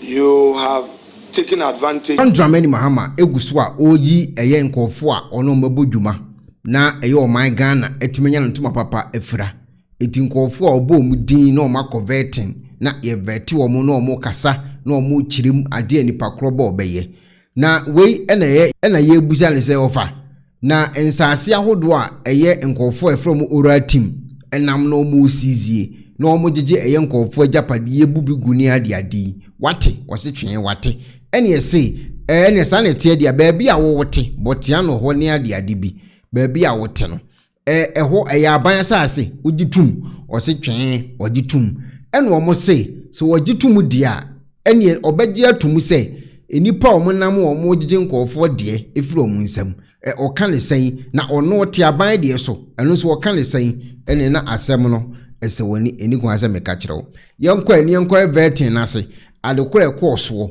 You have taken advantage. John Dramani Mahama gu so a ɔreyi ɛyɛ nkurɔfoɔ a ɔne wɔn bɛbɔ dwuma na ɛyɛ ɔman Ghana atumi anya no ntoma papa afira. Enti nkurɔfoɔ a ɔbɔ wɔn din na wɔn akɔ vetting na yɛ vɛte wɔn na wɔn kasa na wɔn kyerɛ mu adeɛ a nipa korɔ bɔ ɔbɛyɛ. Na wei na ɛyɛ na yɛrebisa no sɛ ɔfa. Na nsaase ahodoɔ a ɛyɛ nkurɔfoɔ a ɛfrɛ wɔn oral team nam na wɔresiizie na wɔgyegye ɛyɛ nkurɔfoɔ agyapadeɛ yɛbu bi gu ne adeade yi. Wate? Ɔse twee wate. Ɛneɛ se ɛɛ ɛneɛ saa na ɛteɛ deɛ a baabi a wowote, Bɔtiano hɔ ne adeade bi, baabi a wote no ɛhɔ ɛyɛ aban asase wogye tom ɔse twɛn ɔgye tom ɛna ɔmo se sɛ ɔgye tom deɛ a ɛneɛ ɔbɛgye atom sɛ nnipa a ɔmo nam a ɔmo gyegye nkɔɔfoɔ deɛ efiri ɔmo nsam ɛ ɔka ne sɛn na ɔno ɔte aban deɛ so ɛno nso ɔka ne sɛn ɛne na asɛm no ɛsɛ wɔne ɛni kwan sɛ meka kyerɛ wo yɛnkɔ ɛneɛ nkɔ ɛvɛɛten n'ase adekorɔ ɛkɔɔ soɔ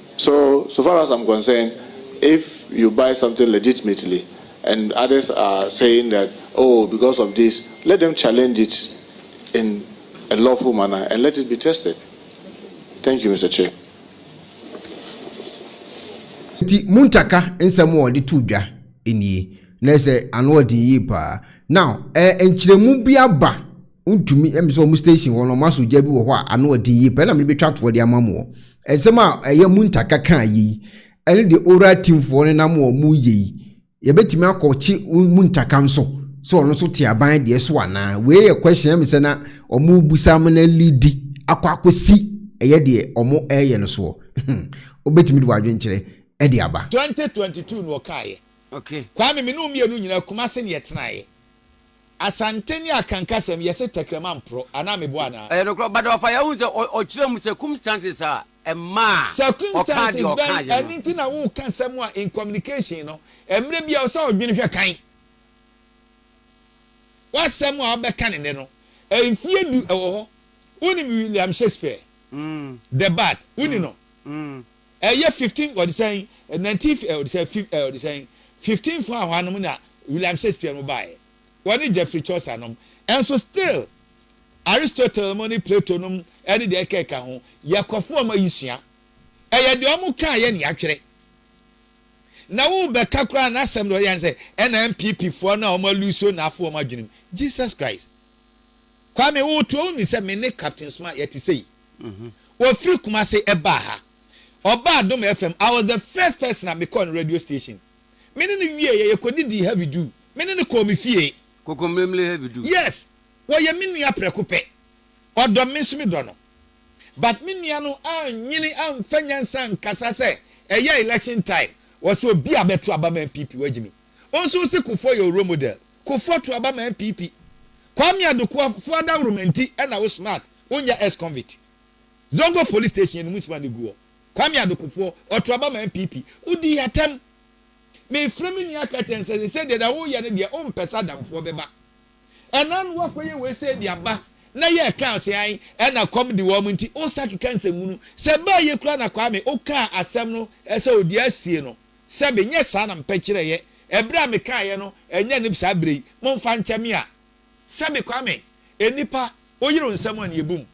So so far as I'm concerned if you buy something legitimately and others are saying that oh because of this let them challenge it in a lawful manner and let it be tested thank you Mister Chair. Nti Muntaka nsɛm a ɔde too dwa nie, na ɛsɛ ano ɔden yie paa. Now ɛɛ nkyerɛmu bi aba. Wontumi ɛm sɛ wɔn station hɔ no wɔn asɔ gya bi wɔ hɔ a ano ɔden yie paa ɛna mede bɛtwa toɔ de ama mo wɔ. Nsɛm a ɛyɛ mu ntaka ka yei ɛne deɛ oral team foɔ no nam wɔn mu yɛ yi yɛbɛtumi akɔ kye mu ntaka nso sɛ ɔno nso te aban deɛ so anaa wei yɛ question ɛm sɛ na wɔn rebusa mo na lidi akɔ akɔsi ɛyɛ deɛ wɔn ɛyɛ no soɔ wobɛtumi de w'adwenkyerɛ ɛde aba. Twenty twenty two na ɔkaeɛ. Okay. Kwame, me ne wo mmienu nyinaa Kumasi na yɛtenaeɛ. Asante ne akankasɛm, yɛse tɛkrɛma mporo, anaa meboa anaa? Ɛyɛ nokorɛ, but ɔfa yɛ, wohu sɛ ɔkyerɛ mu circumstances a ɛmaa ɔkaa deɛ ɔkaa yɛ no. Circumstances bɛn nti na woka asɛm a in communication no, mmerɛ biara ɛwɔ sɛ wodwene hwɛ kan? W'asɛm a wobɛka ne nnɛ no, mfeɛ du ɛwɔ hɔ, wonim William Shakespeare, the bard, wonim no? Ɛyɛ fifteen wɔde sɛn eh, nineteen fi- eh, wɔde sɛ fif eh, wɔde sɛn fifteen fo a hɔanom na William Shakespeare no baeɛ wɔne Geoffrey Chaucer nom ɛnso still Aristotle mo ne Plato nom ɛne deɛ ɛka ɛka ho yɛkɔfo ɔma yi sua ɛyɛ deɛ ɔmo kaa yɛ ne yɛatwerɛ na wo bɛka koraa na asɛm deɛ ɔyɛ sɛ ɛna MPP foɔ no a ɔmo aluso na afo ɔmo adwenem Jesus Christ Kwame wo to wo ni sɛ me ne Captain Suma yɛte sei Ɔfiri Kumase baa ha. Ɔbaa Adom FM, I was the first person a mekɔɔ ne radio station. Me ne no wieeɛ, yɛkɔdidii Heavy Du. Me ne no kɔɔ me fie. Kokomlemle Heavy Du? Yes. Ɔyɛ me nua prɛko pɛ. Ɔdɔ me, me nso medɔ no. But me nua no annwene amfa nyansa ankasa sɛ ɛyɛ election time, ɔse obi a bɛto aba ma NPP, wagye me. Wo nso wose Kufuor yɛ wo role model. Kufuor to aba ma NPP. Kwame Adukuafoɔ adaworoma nti na wo smart. Wo nyɛ ex convict. Zongo police station no mu sima no gu hɔ. Kwame Adokofoɔ, ɔto aba ma NPP. Wo dii atɛm. Me frɛ me nua Curtain sɛ sesei deɛ deɛ wo yɛ no deɛ wo mpɛ sɛ adamfoɔ bɛ ba. Ɛna no wa kɔ yɛ wei sei de aba na yɛ ɛkaa sɛ an ɛna kɔm de wɔn nti wo sa keka nsɛmunu. Sɛ baa yɛ kura na Kwame wo kaa asɛm no sɛ odi asie no sɛbe nyɛ saa na mpɛ kyerɛ yɛ ɛbrɛ a me kaa yɛ no ɛnyɛ no saa brɛ yi. Mo nfa nkyɛ me a Sɛbi Kwame, Nnipa, wo yere wo nsɛm a na yɛbu mu.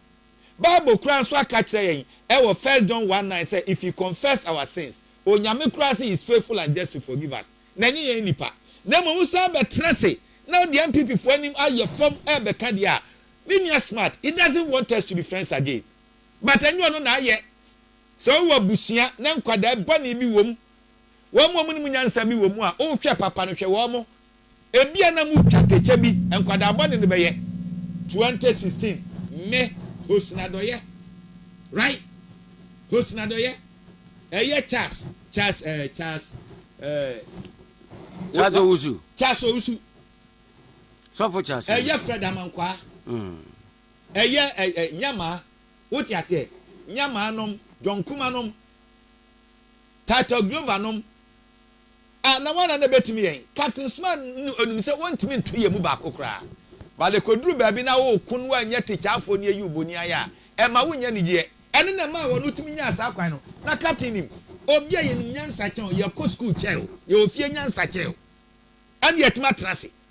Bible koraa nso aka akyerɛ yɛn wɔ First John one nine sɛ if we confess our sins, Onyame koraa se he is faithful and just to forgive us. Na ɛnyɛ yɛn nnipa. Na mmom wo san bɛtena ase na wode NPP foɔ anim ayɛ fam ɛrebɛka deɛ a, me nua Smart, he doesn't want us to be friends again. But ɛnyɛ ɔno na ayɛ. Sɛ wowɔ abusua na nkwadaa bɔne bi wɔ mu, wɔn a wɔnim nyansa bi wɔ mu a, wohwɛ papa no, hwɛ wɔn, Ebia na mo twa kɛkyɛ bi nkwadaa bɔne no bɛyɛ twenty sixteen. Mme host nadɔyɛ right host nadɔyɛ ɛyɛ Charles Charles ɛɛ Charles ɛɛ Charles Owusu Charles Owusu sɔfo Charles Owusu ɛyɛ Fred Amankwaa mm. ɛyɛ ɛɛ nyamaa wote aseɛ nyamaa nom John Kuma nom Title Glover nom A na wɔn ara na ɛbɛtumi yɛn. Captain Suma no ɔnim sɛ wɔntumi nto yɛn mu baako koraa. But ɛkɔduru baabi na woko no anyɛ tikyafoɔ ne ayi wo boniayɛ a, ɛmma wonnya anigyeɛ. Ɛno na ɛmaa wɔn tumi nyaa saa kwan no. Na Captain nim, obi a yɛnim nyansa kyɛn wo, yɛkɔ sukuu kyɛn wo, yɛwɔ fie nyansa kyɛn wo, ɛne yɛatumi atena ase.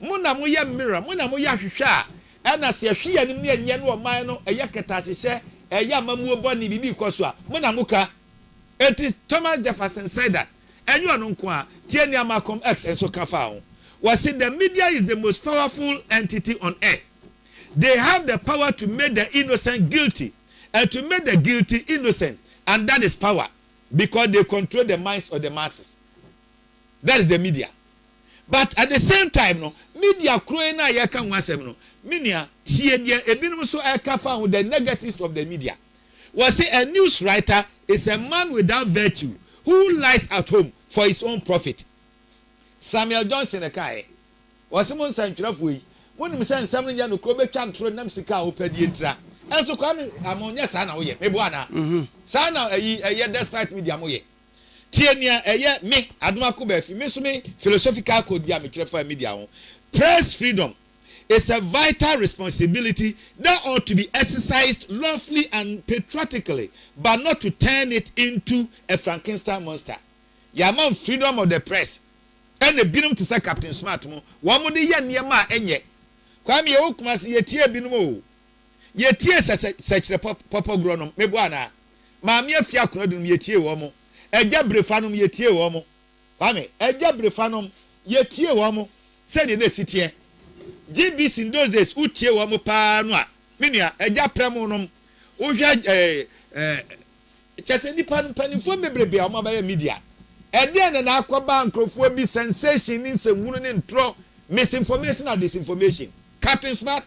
Mo na moyɛ mmera, mo na moyɛ ahwehwɛ a ɛna se ɛhwe yɛn anim ne ɛnyɛ ne ɔman no, ɛyɛ kɛtɛahyehyɛ, ɛyɛ amamuo bɔne, biribi rekɔ so a, mo na moka. Enti Thomas Jefferson said that, ɛnyɛ ɔno nko ara, tie nea Malcolm X nso ka faa ho, ɔse the media is the most powerful entity on earth, they have the power to make the innocent guilty and to make the guilty innocent and that is power because they control the minds of the masses, that is the media. But at the same time no media koro yi no a yɛka ho asɛm no me nua tie deɛ ebinom nso ɛka fa ho the negatives of the media wɔse a news writer is a man without virtue who lies at home for his own profit Samuel Johnson ɛkaeɛ wɔse mo nsɛntwerɛfoɔ yi monim sɛ nsɛm no nyɛ nokorɛ wobɛtwa ntoro nam sika a wopɛ deɛ ntira ɛnso kwa me ama ɔnyɛ saa na woyɛ meboa anaa mhm. saa na ɛyi ɛyɛ despite media moyɛ Tie nea ɛyɛ me, Adom Akobafi, me nso me philosophical code bi a metwerɛ faa media ho, Press freedom is a vital responsibility that ought to be exercised lawfully and patriotically but not to turn it into a Frankenstein monster. Yɛama no freedom of the press ɛna ebinom te sɛ Captain Smart mo, wɔde yɛ nneɛma a ɛnyɛ. Kwame yɛwɔ Kumasi, yɛtie ebinom o. Yɛtie sɛ sɛ sɛkyerɛ pɔpɔgorɔ nom, meboa anaa? Maame Afiakona Dunum, yɛtiee wɔn. Agya Birefanom, yɛtiee wɔn. Kwame, Agya Birefanom, yɛtiee wɔn sɛdeɛ na ɛsi teɛ. GBC in those days, wotie wɔn pa ara no a, me nua, Agya Prɛmo nom, wohwɛ ɛɛ, ɛɛ, kyɛ sɛ nnipa no, mpanimfoɔ bebrebe a wɔabɛyɛ media. Ɛdeɛn na na akɔba nkurɔfoɔ bi sensation ne nsɛmhunu ne ntorɔ, misinformation and disinformation. Captain Smart,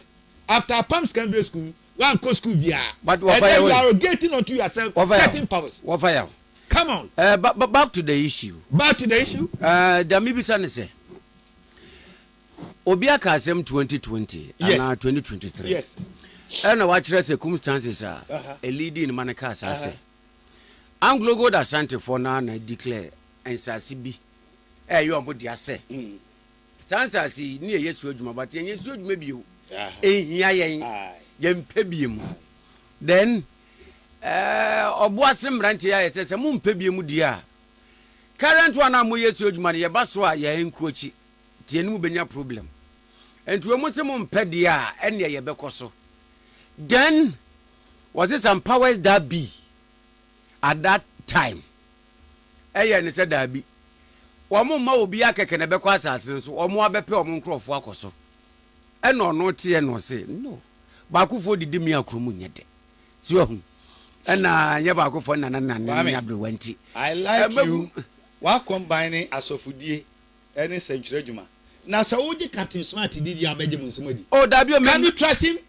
after Apam Secondary School, Wankɔ school biara. But wɔfa Ɛnɛ yaw you are getting onto yourself wɔfa yaw certain powers. wɔfa yaw. Come on. Eh, ba, ba, back to the issue. Back to the issue. Eh, deɛ mebisa ne sɛ obi aka asɛm 2020 Yes. anaa 2023 Yes. ɛna wakyerɛ circumstances a Aha. ɛlidi ne ma no kaa saa sɛ anglo gold asantefoɔ no a na declare nsase bi ɛyɛ ɔmo dea sɛ Saa nsase yi ne yɛyɛ so adwuma but yɛnyɛ so adwuma bio. Ɛnhia yɛn. Yɛmpɛ bie mu. Then ɔbo ase mmerante yɛ ayɛ sɛ sɛ mompɛ bie mu die a current one a moyɛ so adwuma no yɛba so a yɛn nko akyi nti yɛne mu bɛnya problem. Nti wɔ mo se mompɛ deɛ a ɛneɛ yɛbɛkɔ so. Then was it some powers that be at that time. Ɛyɛ ne sɛ daabi. Wɔremma obiara kɛkɛ na ɛbɛkɔ asase no so, wɔn ara bɛpɛ wɔn nkurɔfoɔ akɔ so. Ɛna ɔno teɛ na ɔse, No, baakofoɔ didi me akuro mu nyɛ dɛ. So ahu? Ɛna nyɛ baakofoɔ na na ne ne aberewa nti. I like you. Wa combine asɔfodie ɛne sɛntwerɛ adwuma. Na sɛ wogye Captain Smart di deɛ a bɛgye mo nsɛm adi. Oh daabi o, me. Can you trust him?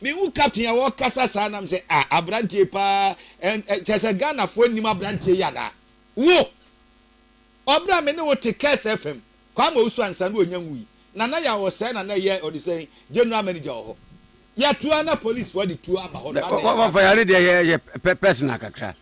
Me hu captain a ɔkasa saa nam sɛ ah abranteɛ paa ɛn ɛ kyɛ sɛ Ghana foɔ nnim abranteɛ yi anaa? Wo! Ɔbrɛ a me ne wo te Curse FM, Kwame Owusu ansa na ɔnya nwui, Nana Yaw ɔsɛɛ na na ɛyɛ ɔde sɛn General Manager wɔ hɔ. Yɛto ara na police foɔ de tuo aba hɔ no na adɛn yɛ Ɔfa yare deɛ yɛ yɛ pɛ personal kakra.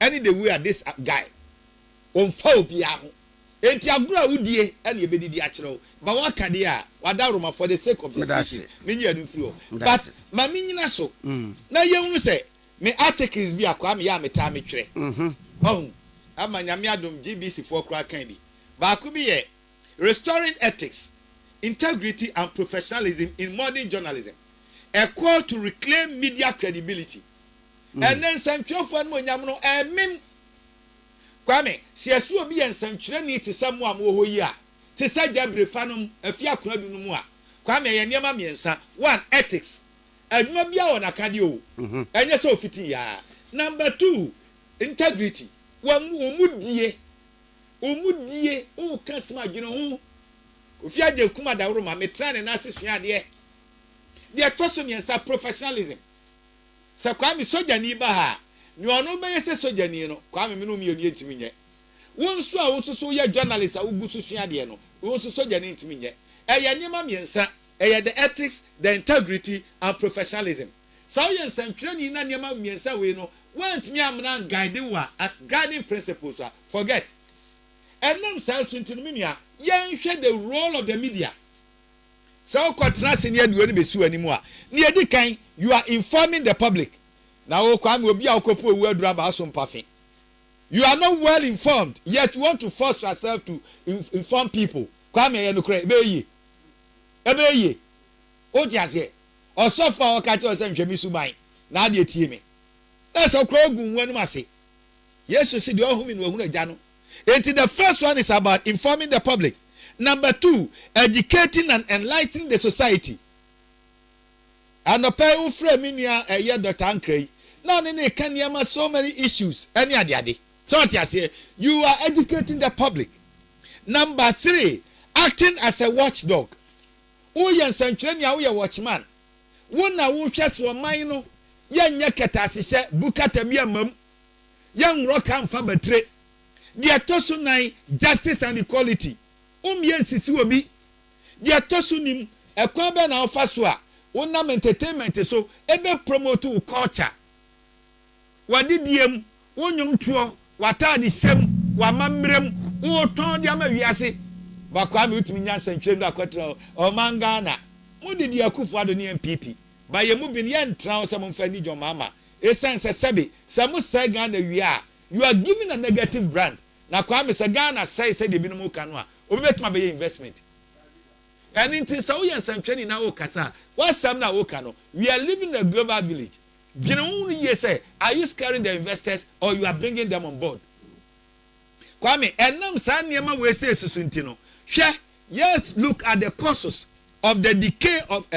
ɛne the way a this guy ɔmfa obiara ho enti agorɔ a wodie ɛne ɛbɛdidi akyerɛ wo ma woaka deɛ a wadaworo ma for the sake of the species menyia no mfiri hɔ but ma menyina so mm. na yɛhunu sɛ me articles bi akwaa meyɛ a metaa metwerɛ mhm. ɔhu ama nyame adom gbc foɔ koraa kan bi baako bi yɛ restoring ethics integrity and professionalism in modern journalism a call to reclaim media credibility Ɛnnɛ nsɛntwerɛfoɔ animuonyam no ɛremem. Kwame, sɛ yɛse obi yɛ nsɛntwerɛni te sɛ mo a mowɔ hɔ yi a, te sɛ Gyabirefa nom, Afie Akona Du no mu a, Kwame, ɛyɛ nneɛma mmiɛnsa, one, ethics, adwuma biara wɔ n'akadeɛ o, ɛnyɛ sɛ ɔfitii aa, number two, integrity, w'amu, wo mu die, wo mu die, woka asem a, dwene ho. Kofi Agyen Nkrumah Daworo ma me traa ne nan ase suaa adeɛ. Deɛ ɛtɔ so mmiɛnsa, professionalism. Sɛ Kwame sogyani ba ha a, nea ɔno bɛyɛ sɛ sogyani no, Kwame, me ne wo mmienu yɛntumi nyɛ. Wo nso a wo nso so woyɛ journalist a wogu so sua adeɛ no, wo nso sogyani ntumi nyɛ. Ɛyɛ nneɛma mmiɛnsa, ɛyɛ the ethics, the integrity and professionalism. Sɛ woyɛ nsɛntwerɛni na nneɛma mmiɛnsa wei no woantumi ammena anguide wo a, as guiding principles a, forget. Ɛnam saa nso nti no, me nua, yɛnhwɛ the role of the media. Sɛ worekɔtena ase ne adiwo no bɛsi w'anim a, nea ɛdi kan, you are informing the public. Na wo, Kwame, obi a wokɔpu owu aduru aba wo so mpafe. You are not well informed, yet you want to force yourself to inform people. Kwame, ɛyɛ nokorɛ, ɛbɛyɛ yie. Ɛbɛyɛ yie. Wote aseɛ? Ɔsɔfo a ɔka kyerɛ sɛ nhwɛ me suban, na adeɛ tie me. Na sɛ wokora wogu wo ho anom ase. Yesu se deɛ ɔhome no wahunu Agya no. Enti the first one is about informing the public, number two educating and enlightening the society. Anɔpa yi wofrɛ me nua ɛyɛ Dɔkta Ankra yi na ɔne ne ka nneɛma so many issues ɛne adeade. Sɛ ɔte aseɛ, you are educating the public. Number three acting as a watchdog. Woyɛ nsɛntwerɛni a woyɛ watchman. Wo na wohwɛ so ɔman no yɛnyɛ kɛtɛasehyɛ, bu kata bi amma mu, Yɛnworɔ ka mfa batire. Deɛ ɛtɔ so nan, Justice and Equality, Wommeɛ nsisi obi. Deɛ ɛtɔ so nim, Ɛkwan bɛn na wofa so a wonam entertainment so bɛ promote wo culture, w'adedie mu, wo nnwomtoɔ, w'ataade hyɛ mu, w'amammerɛ mu, wotɔn de ama wiase. Ba Kwame wotumi nya nsɛntwerɛ no akɔtra hɔ. Ɔman Ghana, mo de di Akufo-Addo ne NPP. Ba yɛn mu bin yɛntra hɔ sɛ momfa nni John Mahama Esiane sɛ sɛbe sɛ mo sɛe Ghana wie a you are given a negative brand na Kwame sɛ Ghana sɛe sɛdeɛ ebinom reka no a obi bɛtumi abɛyɛ investment ɛno nti sɛ woyɛ nsɛntwerɛni na wokasa a w'asɛm no a woka no we are living in a global village dwene ho no yie sɛ are you scaring the investors or you are bringing them on board Kwame ɛnam saa nneɛma wei sɛ esusu nti no hwɛ yes look at the causes of the decay of, uh,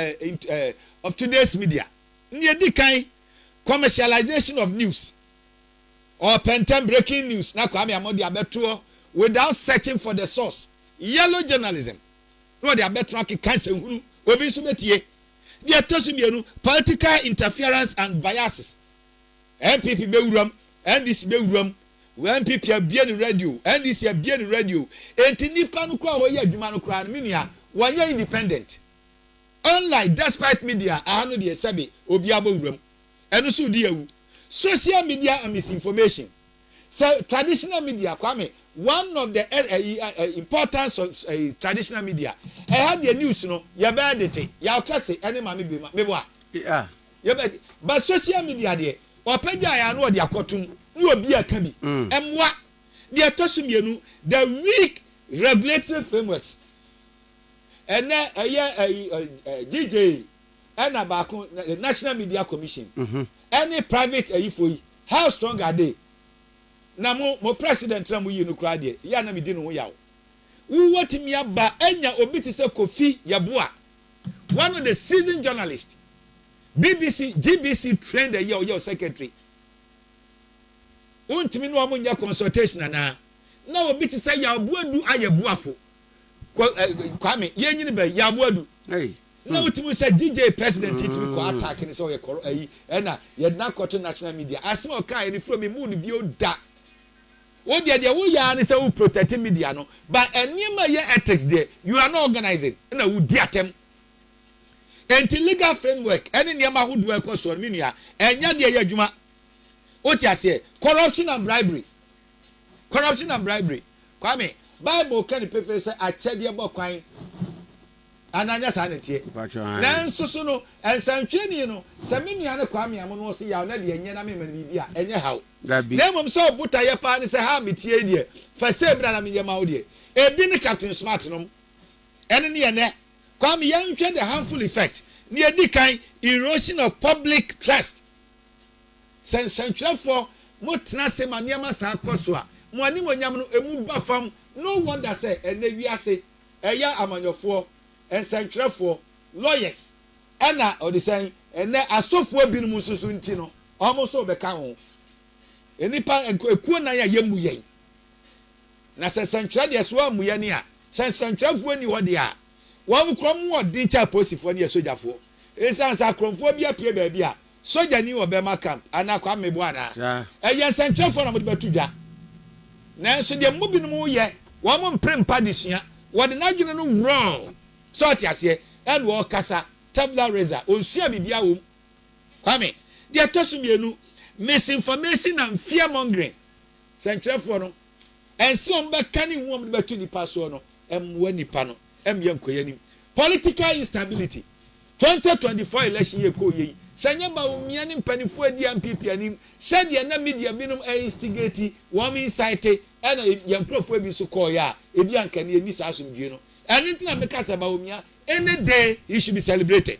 uh, of today's media Nea edi kan, commercialization of news, ɔpɛntɛm, breaking news, na Kwame Amoah de abɛtoɔ without searching for the source, yellow journalism, na ɔde abɛtoɔ akeka nsɛnhunu, obi nso bɛtie. Deɛ ɛtɔ so mmienu, political interference and biases, NPP bɛwuram, NDC bɛwuram, NPP abue ne radio, NDC abue ne radio, enti nnipa no koraa a wɔyɛ adwuma no koraa no, me nua, wɔnyɛ independent. Online despite media aha no deɛ sɛbe obiara bɔ wuram ɛno nso di awu social media and misinformation sɛ traditional media kwame one of the eh, eh, eh, eh importance of eh, traditional media ɛha deɛ news no yɛbɛyɛ dete yaw kɛse ɛne ma me bema mebɔ a yeah. yɛbɛ but social media deɛ ɔpɛ gya yɛ ano ɔde akɔtum ne obi a ka bi mm. ɛmoa deɛ ɛtɔ so mmienu the weak regulatory frameworks Ɛnɛ ɛyɛ ɛyi DJ ɛna baako National Media Commission mhm. ɛne private ɛyifo yi how strong are they na mo mo president na mo yi no koraa deɛ yɛ a na mi di ne ho yaw wowɔ tumi aba anya obi te sɛ Kofi Yeboah one of the seasoned journalist BBC GBC trained ɛyɛ ɔyɛ secretary wontumi ne wɔn nyɛ consultation anaa na obi te sɛ Yeboah du ayɛ boafo. Kwame yɛn nyini bɛyi yabo adu. na hmm. wotumi sɛ DJ president yi tumi kɔ hmm. attack ne sɛ ɔyɛ kɔrɔ ayi ɛna yɛdena kɔto national media asɛm a ɔka yɛ ne furo mi mu no bio da wo deɛ deɛ wo yaa ne sɛ wo protect media no but nneɛma yɛ ethics deɛ you are not organizing ɛna wo di atɛm nti legal framework ɛne nneɛma ahodoɔ ɛkɔ soɔ no mi nua ɛnyɛ deɛ yɛ adwuma wote aseɛ corruption and bribery Corruption and Bribery, Kwame, Bible ka no pefee sɛ akyɛdeɛ bɔ kwan, anaa nyɛ saa na ɛteɛ? Nanso so no, nsɛntwerɛni no, sɛ me nua no Kwame Amonoɔ se yaw na deɛ ɛnyɛ na mema no biribi a, ɛnyɛ haw. Na mmom sɛ wo botaeɛ paa ne sɛ haa metie yi deɛ, fa sei bra na menyɛ ma wo deɛ. Ebi ne Captain Smart nom. Ɛno ne ɛnnɛ. Kwame, yɛnhwɛ the harmful effect. Nea ɛdi kan, erosion of public trust Sɛ nsɛntwerɛfoɔ mo tena ase ma nneɛma saa kɔ so a, mo animuonyam no emu ba fam. No wonder sɛ ɛnnɛ wiase ɛyɛ amanyɔfoɔ, nsɛntwerɛfoɔ, lawyers, ɛna ɔde sɛn, ɛnnɛ asɔfoɔ binom nso so nti no, wɔn nso rebɛka ho. Nnipa ekuo nan a yɛmmu yɛn. Na sɛ nsɛntwerɛ deɛ so ammu yɛn a, sɛ nsɛntwerɛfoɔ nni hɔ deɛ a, Wɔn kɔm wɔ den kyɛn apolisifoɔ ne asogyafoɔ. Ɛsiane sɛ akorɔmfoɔ bi apue baabi a sogya nni wɔ Burma Camp anaa Kwame Boa anaa ɛyɛ nsɛnkyerɛfoɔ na wɔde bɛto dwa. Nanso deɛ mo binom yɛ, wɔn mpere mpa adesua, wɔde n'adwene no worɔɔ, sɛ ɔte aseɛ, ɛna ɔkasa, tabula rasa, ɔnsuaa biribiara wɔ mu. Kwame, Deɛ ɛtɔ so mmienu, misinformation and fear mongering, sɛnkyerɛfoɔ no, Ɛnsɛ wɔn bɛka ne hu wɔn de bɛto nipa soɔ no mmoa nipa no mmyɛ nkɔ yɛn anim. Political instability, 2024 election yi ɛkɔ yɛ yi, sɛ nyɛ Bawumia ne mpaninfoɔ adi NPP anim sɛdeɛ na media binom instigate, wɔn incite ɛna yɛn nkorɔfoɔ ebi nso kɔɔ yɛ a, ebi anka ɛnɛ yɛnni saa asomdwie no. Ɛno nti na meka sɛ Bawumia any day he should be celebrated.